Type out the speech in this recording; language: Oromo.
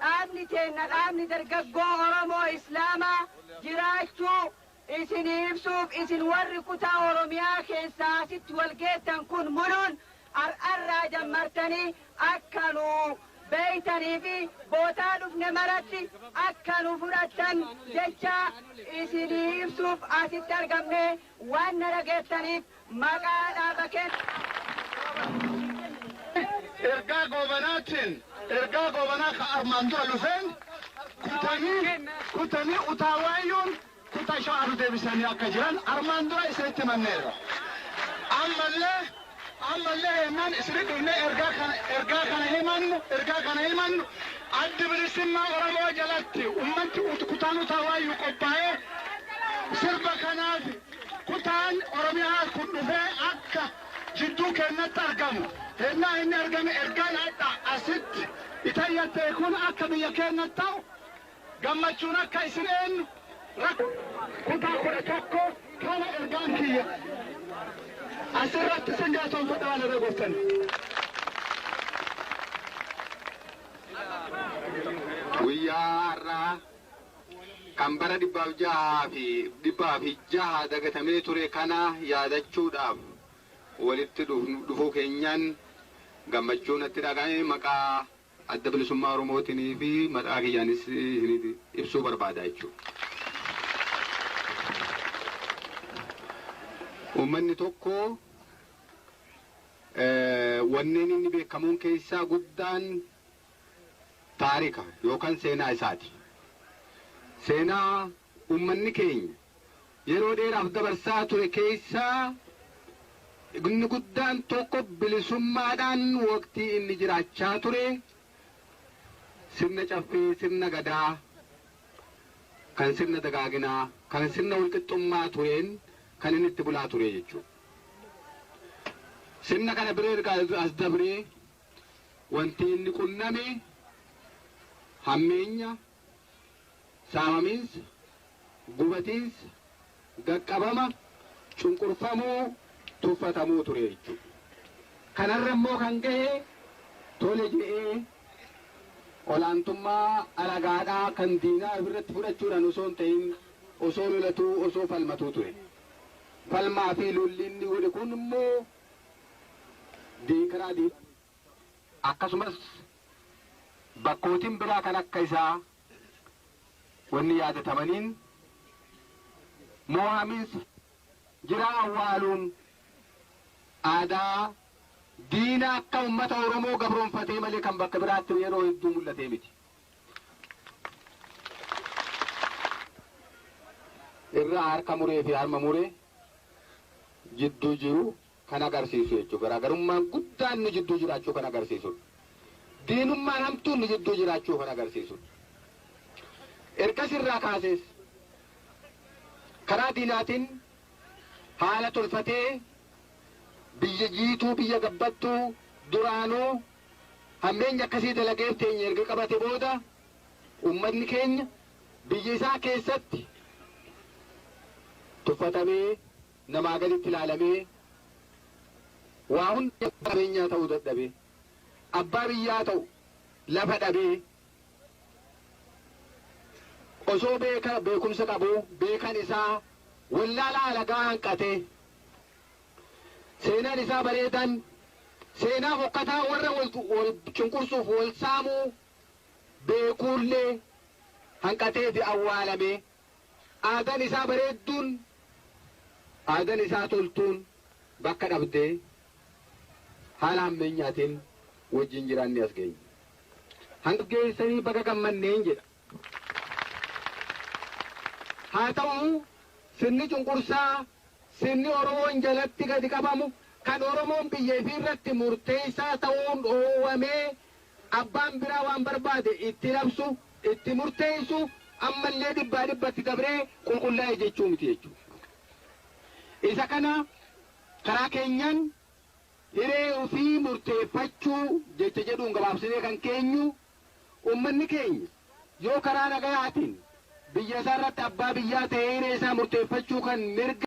Dhaabni teenna Dhaabni Dargaggoo Oromoo Islaamaa jiraachuu isinii ibsuuf isin warri kutaa Oromiyaa keessaa asitti wal geettan kun muluun ar'arraa jammartanii akka nu beeytanii fi bootaa dhufne maratti akka nu fudhattan jechaa isinii ibsuuf asitti argamnee waan na dhageettaniif Maqaa dhaaba keenna. Ergaa Goobanaatiin, ergaa Goobanaa ka armaan dura dhufeen kutanii, kutanii utaa waayyuun kutaa shawaa nu deebisanii akka jiran armaan dura isinitti himanneerra. Ammallee, ammallee hennaan isinitti dhufnee ergaa kana, ergaa kana himannu, ergaa kana himannu Addi Bilisummaa Oromoo jalatti ummanni kutaan utaa waayyuu qophaa'ee sirba kanaaf, Kutaan Oromiyaa kun dhufee akka jidduu keennatti argamu hennaa inni argame ergaan adha asitti itayyattee kun akka biyya keennatti ta'u gammachuun akka isin eennu rakko Kutaa 11 kana ergaan kiyya asirratti isin galatonfadha waan irra gortaniif. Guyyaa har'aa kan bara 606 dagatamee ture kana yaadachuudhaaf walitti dhufuu keenyaan gammachuu natti dhaga'ame maqaa Adda Bilisummaa Oromootiin fi maqaa kiyyaanis isiniif ibsuu barbaada jechuudha. Uummanni tokko wanneen inni beekamuun keessaa guddaan taarika yookan seenaa isaati. Seenaa ummanni keenya yeroo dheeraaf dabarsaa ture keessaa inni guddaan tokko bilisummaadhaan waqtii inni jiraachaa ture sirna caffee, sirna gadaa, kan sirna dagaaginaa, kan sirna walqixxummaa tureen kan inni itti bulaa ture jechuudha. Sirna kana bira erga as dabree Wanti inni qunname hammeenya, saamamiinsa, gubatiinsa, gaqqabama, cunqurfamuu, tuffatamuu ture jechuudha. Kanarra immoo kan gahe tole jedhee olaantummaa alagaadhaa kan diinaa ofirratti fudhachuudhaan osoo hin ta'in osoo lolatuu, osoo falmatuu ture. Falmaa fi lolli inni godhe kun immoo deekaraa D akkasumas bakkootin biraa kan akka isaa wanni yaadatamaniin moohaminsa jiraa awwaaluun aadaa diina akka ummata Oromoo gabroomfatee malee kan bakka biraatti yeroo hedduu mul'atee miti. irraa harka muree fi harma muree jidduu jiru kan agarsiisu jechuudha. Garaagarummaan guddaan nu jidduu jiraachuu kan agarsiisudha. Diinummaan hamtuun nu jidduu jiraachuu kan agarsiisudha. Ergas irraa kaasees karaa diinaatiin haala tolfatee biyya jiituu biyya gabbattuu duraanuu hammeenya akkasii dalageef teenya erga qabate booda uummanni keenya Biyya isaa keessatti tuffatamee, namaa gaditti ilaalamee, waa hundi abbaa qabeenyaa ta'uu dadhabee, abbaa biyyaa ta'u lafa dhabee, osoo beeka beekumsa qabuu beekan isaa wallaalaa alagaa hanqatee, seenaan isaa bareedan seenaa fokkataa warra wal cunqursuuf wal saamuu beekuullee hanqateeti awwaalame. Aadan isaa bareedduun, aadan isaa toltuun bakka dhabdee haala hammeenyaatiin wajjin jiraannee as geenye. Hanga geessanii baga gammanneen jedha. Haa ta'u sirni cunqursaa, sirni Oromoon jalatti gadi qabamu, kan Oromoon biyya ifiirratti murteessaa ta'uun dhoowwamee Abbaan biraa waan barbaade itti labsu, itti murteessu, ammallee dhibbaa dhibbatti dabree qulqullaa'e jechuu miti jechuudha. Isa kana karaa keenyaan hiree ofii murteeffachuu jecha jedhuun gabaabsinee kan keenyu, ummanni keenya yoo karaa nagayaatiin biyya isaarratti abbaa biyyaa ta'ee hiree isaa murteeffachuu kan mirga.